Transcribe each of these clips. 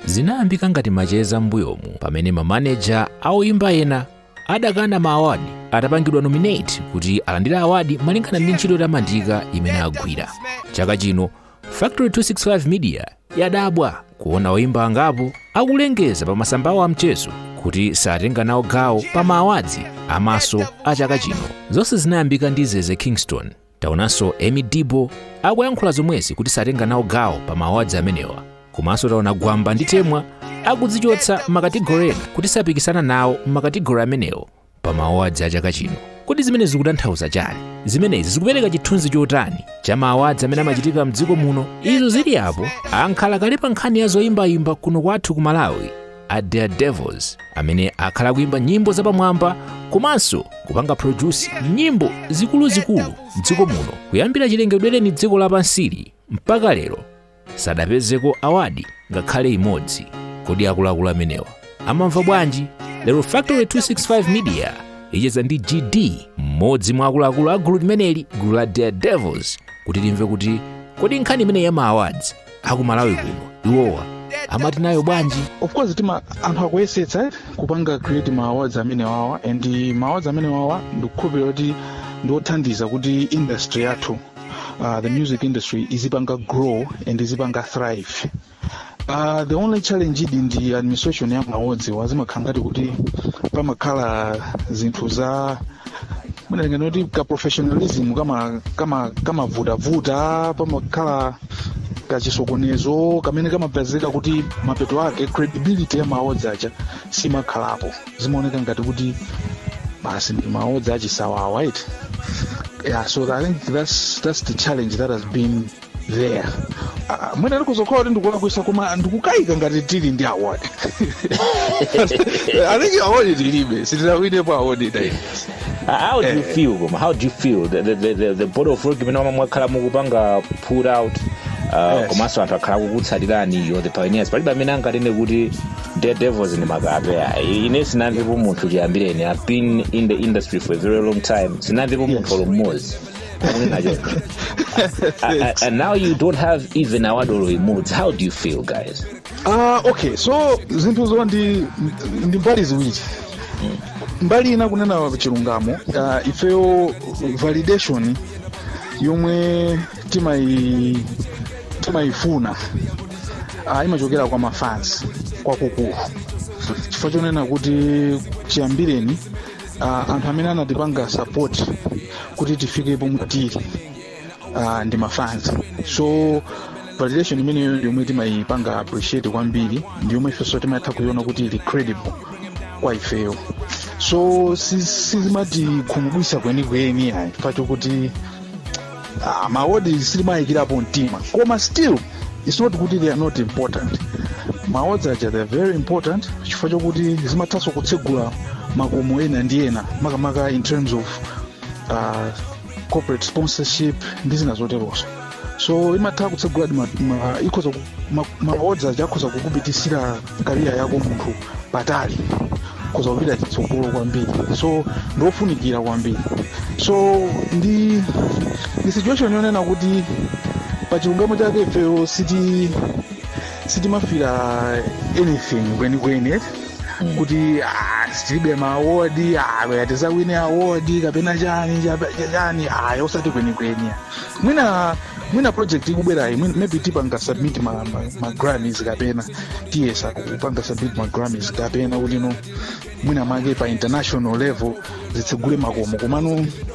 Zinayambika ngati macheza m'mbuyomu pamene ma manager a oyimba ena adakana ma award atapangidwa nominate kuti alandire award malingana ndi ntchito yotamandika imene agwira. Chaka chino Factory 265 Media yadabwa kuona oyimba angapo akulengeza pa masamba awo amchezo kuti satenga nawo gawo pa ma awards a Maso a chaka chino. Zonse zinayambika ndi Zeze Kingston Taonanso Emmie Deebo akuyankhula zomwezi kuti satenga nawo gawo pa ma awards amenewa. Komanso taona Gwamba ndi Temwa akudzichotsa m'makategori ena kuti sapikisana nawo m'makategori amenewo pa ma awards a chaka chino. Kodi zimenezi zikutanthauza chani? Zimenezi zikupereka chithunzi chotani cha ma awards amene amachitika mdziko muno? Izo zili apo, ankhala kale pa nkhani ya zoyimbayimba kuno kwathu ku Malawi. a Daredevilz amene akhala kuimba nyimbo zapamwamba komanso kupanga produce nyimbo zikuluzikulu mdziko muno kuyambira chilengedwereni dziko lapansili mpaka lero sadapezeko awadi ngakhale imodzi kodi akuluakulu amenewa amamva bwanji lero factory 265 media icheza ndi gd mmodzi mwa akuluakulu a gulu limeneli gulu la Daredevilz kuti timve kuti kodi nkhani imene yama awards aku Malawi kuno iwowa amati nayo bwanji of course timati anthu akuyesetsa eh, kupanga create ma awards amene wawa and ma awards amene wawa ndikukhulupirira kuti ndiothandiza kuti industry yathu uh, the music industry izipanga grow and izipanga thrive Uh, the only challenge idi ndi administration ya ma awards wa zimakhala ngati kuti pamakhala zinthu za mwina tinganene kuti ka professionalism kama kama kamavutavuta pamakhala kachisokonezo kamene kamapezeka kuti mapeto ake credibility ya ma awards aja simakhalapo zimaoneka ngati kuti basi ndi ma awards achisawawa right yeah so i think that's, that's the challenge that has been there Ah, mwina ndikutha kukhala kuti ndikulakwisa koma ndikukayika ngati tili ndi award i think award tilibe sitinawinepo award iyayi Ah, how do you Eh. feel koma how do you feel the, the, the, the, the body of work imene mwakhala mukupanga put out uh, Yes. komanso anthu akhala akukutsatirani you're the pioneers palibe amene anganene kuti Daredevilz ndi makape ayi ine sinamvepo munthu chiyambireni i've been in the industry for a very long time sinamvepo munthu olo mmodzi akunena choncho A- a- and now you don't have even award olo imodzi how do you feel guys Ah, okay so zinthuzo ndi ndi mbali ziwiri mbali ina kunena chilungamo uh, ifeyo validation yomwe timayi timayifuna uh, imachokera kwa mafans kwakukulu chifukwa chonena kuti chiyambireni uh, anthu amene anatipanga support kuti tifike pomwe tili uh, ndi mafans so validation imeneyo yomwe timayipanga appreciate kwambiri ndi yomwe ifenso timatha kuyiona kuti ili credible kwa ifeyo so sizimatikhumudwisa kwenikweni ayi chifukwa chokuti uh, ma awards sitimayikirapo mtima koma still it's not kuti they are not important ma awards aja they are very important chifukwa chokuti zimathanso kutsegula makomo ena ndi ena makamaka in terms of uh, corporate sponsorship ndi zina zoterozo so imatha kutseguladi ma- ma- ikhoza ku- ma- ma awards aja akhoza kukupitisira career yako munthu patali ukhoza kupita chitsogolo kwambiri so ndiofunikira kwambiri so ndi ndi situation yonena kuti pa chilungamo chake ifeyo siti sitimafira anything kwenikweni eti kuti ah, tilibe ma award ah, kaya tizawine award kapena chani chani cha- chani ayi osati kwenikweni mwina mwina project ikubwerayi mwina- maybe tipanga submit ma, ma, ma grammys kapena tiyesa kupanga submit ma grammys kapena kuti no mwina mwake pa international level zitsegule makomo komano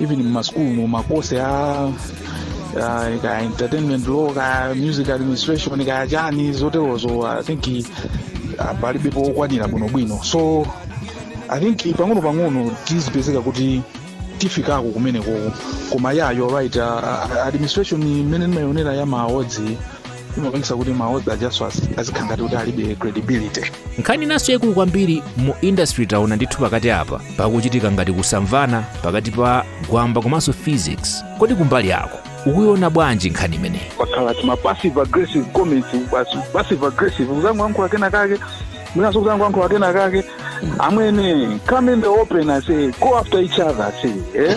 even mmasukulu mu makosi a a- kaya entertainment law kaya music administration kaya chani zoterozo i think ah, palibepo okwanira bwinobwino so i think pang'ono pang'ono tizipezeka kuti tifikako kumenekoko koma you're right ah, ah, administration mmene ndimayionera ya ma awards imapangisa kuti ma awards ajaso azikhala ngati kuti alibe credibility nkhani inanso yaikulu kwambiri mu industry taona ndithu pakati apa pakuchitika ngati kusamvana pakati pa gwamba komanso phyzix kodi kumbali yako ukuiona bwanji nkhani imeneyi pakhala ti ma passive aggressive comments basi passive aggressive kuzangoyankhula kena kake winaso kuzangoyankhula kena kake amwene come in the open aise go after each other aise eh?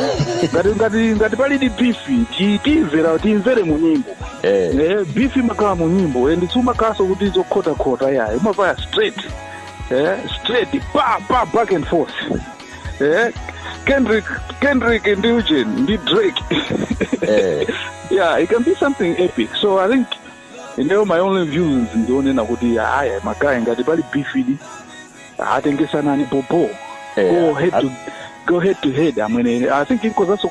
ngati ngati ngati palidi beef ti- timvera timvere mu nyimbo Eh. eh, beef imakhala mu nyimbo and siumakhalanso kuti zokhotakhota yayi umavaya straight eh, straight pa pa back and forth eh, kendrick kendrick ndi eugene ndi drake Eh. yeah it can be something epic so i think ineyo my only views ndionena kuti aya magayi ngati pali bifidi atengesanani popo Eh, go head to go head to head amwene i think it was also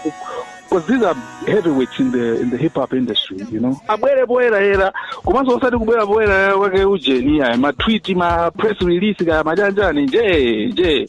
because these are heavyweights in the in the hip hop industry you know abwere poyerayera komanso osati kubwera poyerayera kwake ujeni aya matwiti ma press release kaya majanjani nje nje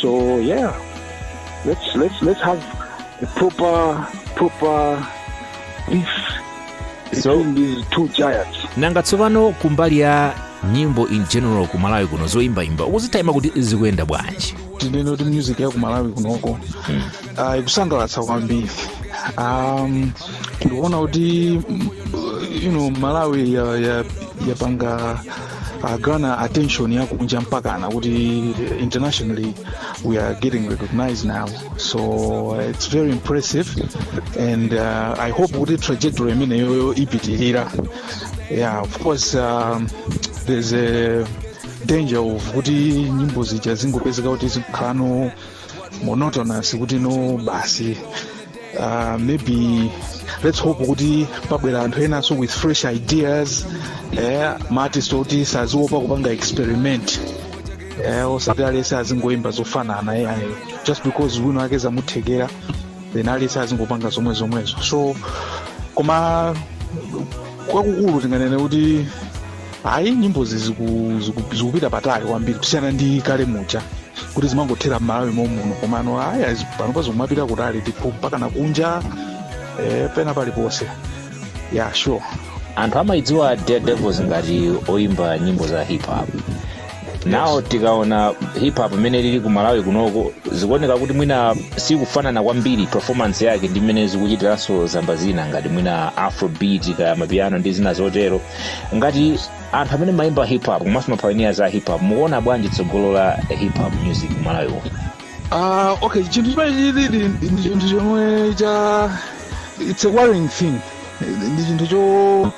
So yeah, let's let's let's have a proper proper beef So- between these two giants. nanga tsopano kumbali ya nyimbo in general ku malawi kuno zoyimbayimba ukuzitayima kuti zikuyenda bwanji tinene kuti music ya kumalawi kunoko ah, ikusangalatsa kwambiri um, ndikuona kuti mm, you know malawi ya- ya- yapanga gana attention ya kunja mpakana kuti internationally we are getting recognized now so uh, it's very impressive and uh, i hope kuti trajectory imeneyoyo ipitirira yeah of course um, there's a danger of kuti nyimbo zija zingopezeka kuti zikhala no monotonous kuti no basi uh, maybe let's hope kuti pabwera anthu enanso with fresh ideas eh, maartist oti saziopa kupanga experiment eh, osati alese azingoimba zofanana eh, ayi. just because wina wake zamuthekera then alese azingopanga zomwe zomwezo so koma kwakukulu tinganene kuti ayi nyimbozi ziku- ziku- zikupita patali kwambiri kusiyana ndi kale muja kuti zimangothera m'malawi momuno komano ayi azi- panopa zikumapita kutali ndipo mpaka nakunja eh, pena paliponse ya yeah, sure anthu amayidziwa Daredevilz ngati oyimba nyimbo za hip hop now tikaona hip hop mmene ilili ku malawi kunoko zikuoneka kuti mwina sikufanana kwambiri performance yake ndi mmene zikuchitiranso zamba zina ngati mwina afrobeat kaya mapiano ndi zina zotero ngati anthu amene mumayimba hip hop komanso mapioneer a hip hop mukuona bwanji tsogolo la hip hop music malawi uno Ah, okay chinthu chimene chilili ndi chinthu chomwe cha it's a worrying thing ndi chinthu cho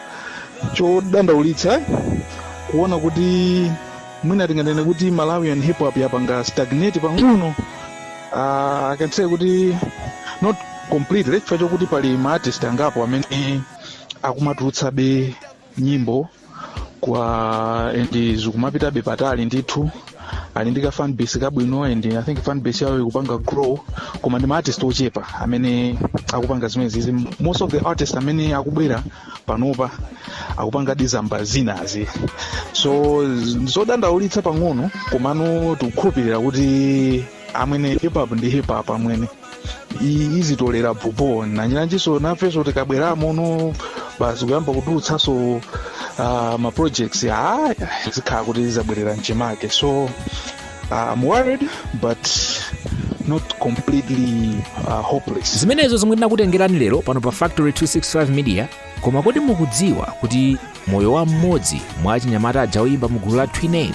chodandaulitsa kuona kuti mwina tinganene kuti malawian hip hop yapanga stagnate pang'ono uh, i can say kuti not completely chifukwa chokuti pali ma artist angapo amene akumatulutsabe nyimbo kwa and zikumapitabe patali ndithu ali ndi ka fan base kabwino and i think fan base yawo ikupanga grow koma ndi ma artist ochepa amene akupanga zimenezi izi most of the artists amene akubwera panopa akupanga dizamba zinazi so z- zodandaulitsa pang'ono komano tikukhulupirira kuti amwene hip hop ndi hip hop amwene izitolera popo nanjinanjinso nafenso tikabweramo no basi kuyamba kutulutsanso uh, ma projects aya zikhala kuti zizabwerera mchimake so uh, I'm worried but not completely uh, hopeless zimenezo zomwe tinakutengerani lero pano pa factory 265 media koma kodi mukudziwa kuti moyo wa mmodzi mwa achinyamata aja oyimba mu gulu la twiname